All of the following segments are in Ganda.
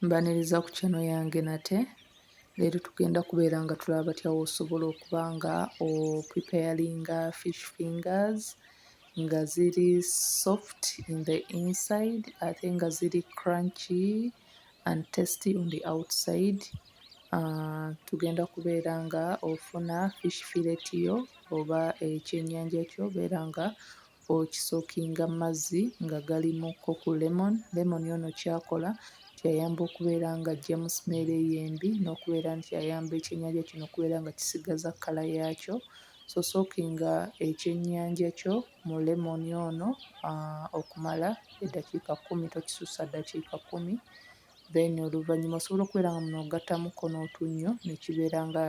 mbaniriza ku kyano yange nate leero tugenda kubeera nga tulaba batya wosobola okuba nga opreparinga fish fingers nga ziri soft in the inside ate nga ziri crunchy and testy on the outside uh, tugenda kubeera nga ofuna fish filet yo oba ekyenyanja kyo beera nga okisokinga mazzi nga galimu ko ku lemon lemon ono kyakola nti ayamba okubeera nga ajjamu simeera eyo embi n'okubeera nti ayamba ekyennyanja kino okubeera nga kisigaza kkala yaakyo so sookinga ekyennyanja kyo mu lemon ono okumala eddakiika kkumi tokisussa ddakiika kkumi then oluvannyuma osobola okubeera nga muno ogattamuko n'otunnyo ne kibeera nga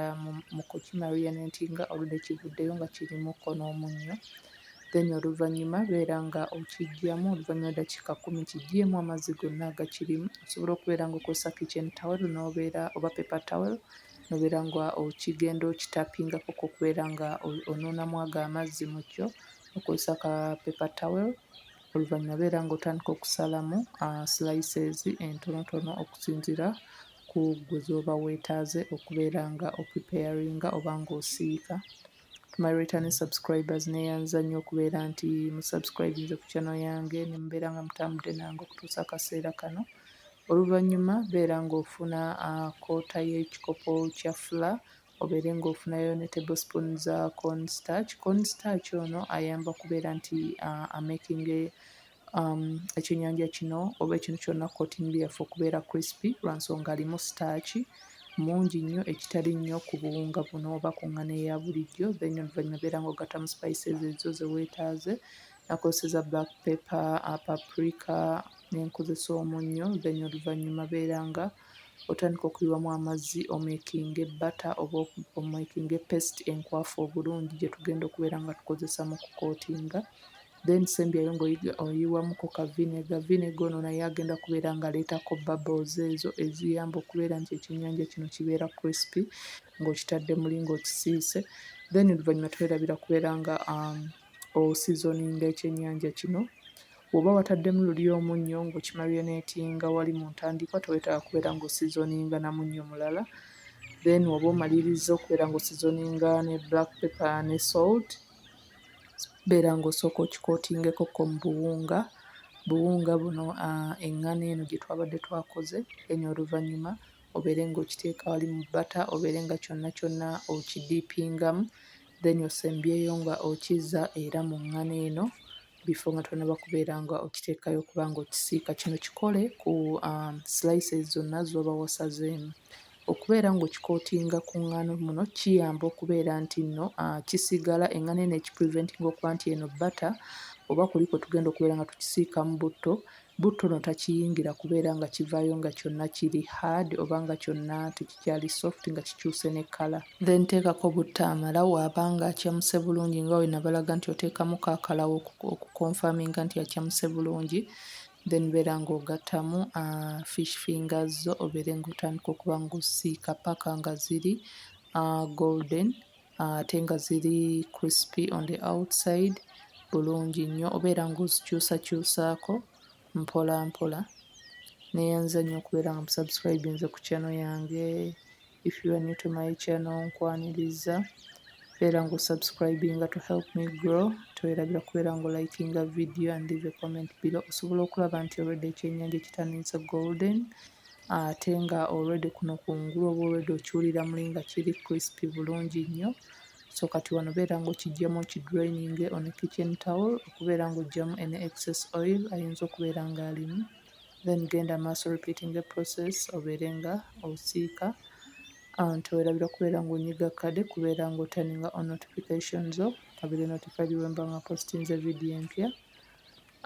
mu kukimarinate nga oludde kivuddeyo nga kirimuko n'omunnyo then oluvannyuma beera nga okiggyamu oluvannyuma ddakiika kkumi kiggyemu amazzi gonna agakirimu osobola okubeera nga okozesa kitchen towel n'obeera oba paper towel nobeera nga okigenda okitapingako okubeera nga onuunamu ago amazzi mu kyo okozesa ka paper towel. oluvannyuma beera ng'otandika okusalamu ah, slices entonotono okusinziira ku gwe z'oba weetaaze okubeera nga opreparinga oba ng'osiika to my returning subscribers neeyanza nnyo okubeera nti musubscribinze ku channel yange ne mubeera nga mutambudde nange okutuusa akaseera kano oluvannyuma beera ng'ofuna ah, koota y'ekikopo kya fula obeere ng'ofunayo ne table spoon za corn starch. Corn starch ono ayamba kubeera nti uh, amaking um, ekyenyanja kino oba ekintu kyonna coating byaffe okubeera crispy lwa nsonga alimu starch mungi nnyo ekitali nnyo ku buwunga buno oba ku ngano eya bulijjo then oluvannyuma obeera ng'ogattamu spices ezo ze weetaaze nakozeseza black pepper uh, paprika nenkozesa omunnyo then oluvannyuma beera nga otandika okuyiwamu amazzi omekinge bata oba omekinge pesiti enkwafu obulungi gye tugenda okubeera nga tukozesa mu kukootinga then sembyayo ng'oyiwamuko ka vinega vinega ono naye agenda kubeera ng'aleetako bubbles ezo eziyamba okubeera nti ekyennyanja kino kibeera crispy ng'okitadde muli ng'okisiise then oluvannyuma twerabira kubeera nga um, osizoninga ekyennyanja kino Bw'oba wataddemu luli omunnyo ng'okimarionetinga wali mu ntandikwa tewetaaga kubeera ng'osizoninga na munnyo mulala then woba omalirizza okubeera ng'osizoninga ne black paper ne salt beera ng'osooka okikotingeko ko mu buwunga buwunga buno uh, eŋŋano eno gye twabadde twakoze then oluvannyuma obeere ng'okiteeka wali mu bata obeere nga kyonna kyonna okidiipingamu then osembyeyo nga okiza era mu ŋŋano eno bifo nga tonaba kubeera nga okiteekayo okuba nga okisiika kino kikole ku um, slices zonna zoba wasazeemu okubeera ng'okikootinga ku ngano muno kiyamba okubeera nti nno uh, kisigala engano eno ekipreventinga okuba nti eno bata oba kuliko tugenda okubeera nga tukisiikamu butto Butto no takiyingira kubeera nga kivaayo nga kyonna kiri hard oba nga kyonna tekikyali soft nga kikyuse ne kala. Then teekako butto amala waaba nga acamuse bulungi nga wenabalaga nti oteekamu ka kala wo oku confirminga nti acamuse bulungi then beera nga ogattamu uh, fish fingers zo obeere nga otandika okuba nga osiika paka nga ziri uh, golden ate nga ziri crispy on the outside bulungi nnyo obeera ng'ozikyusakyusaako mpolampola. Nneeyanza nnyo okubeera nga musubscribinze ku channel yange. If you are new to my channel nkwaniriza beera ng'osubscribinga to help me grow. Towerabira kubeera ng'olikinga video and leave a comment below osobola okulaba nti already ekyennyanja kitandise golden. ate nga already kuno kungulu oba already okiwulira muli nga kiri crispy bulungi nnyo. So kati wano beera ng'okiggyemu okidraininge on a kitchen towel okubeera ng'oggyamu any excess oil ayinza okubeera ng'alimu. Then genda maaso repeating the process obeere nga osiika uh, tewerabira kubeera ng'onyiga kade kubeera ng'otaninga on notification zo obeere notified bwe mba nga postinze vidiyo empya.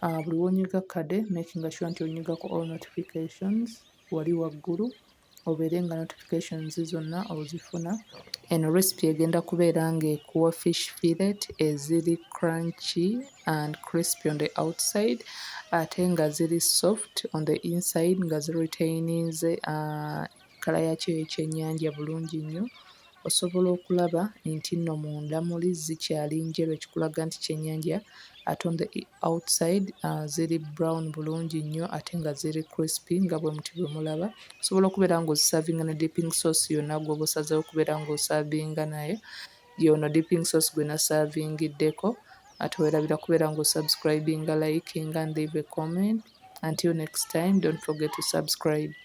Uh, buli wonyiga kade makinga sure nti onyiga ku all notifications wali waggulu obeere nga notifications zonna ozifuna eno recipe egenda kubeera ng'ekuwa fish fillet eziri crunchy and crispy on the outside ate nga ziri soft on the inside nga ziretaininze uh, kala yakyo ekyennyanja bulungi nnyo Osobola okulaba enti no munda muli zikyali njeru ekikulaga nti kyenyanja ate on the outside ziri brown bulungi nnyo ate nga ziri crispy nga bwemuti bwemulaba osobola okubeera nga ozisavinga ne dipping sauce yonna gwoba osazewo okubeera nga osavinga nayo yono dipping sauce gwe nasavingiddeko ate werabira kubeera nga osubscribinga likinga and leave a comment until next time don't forget to subscribe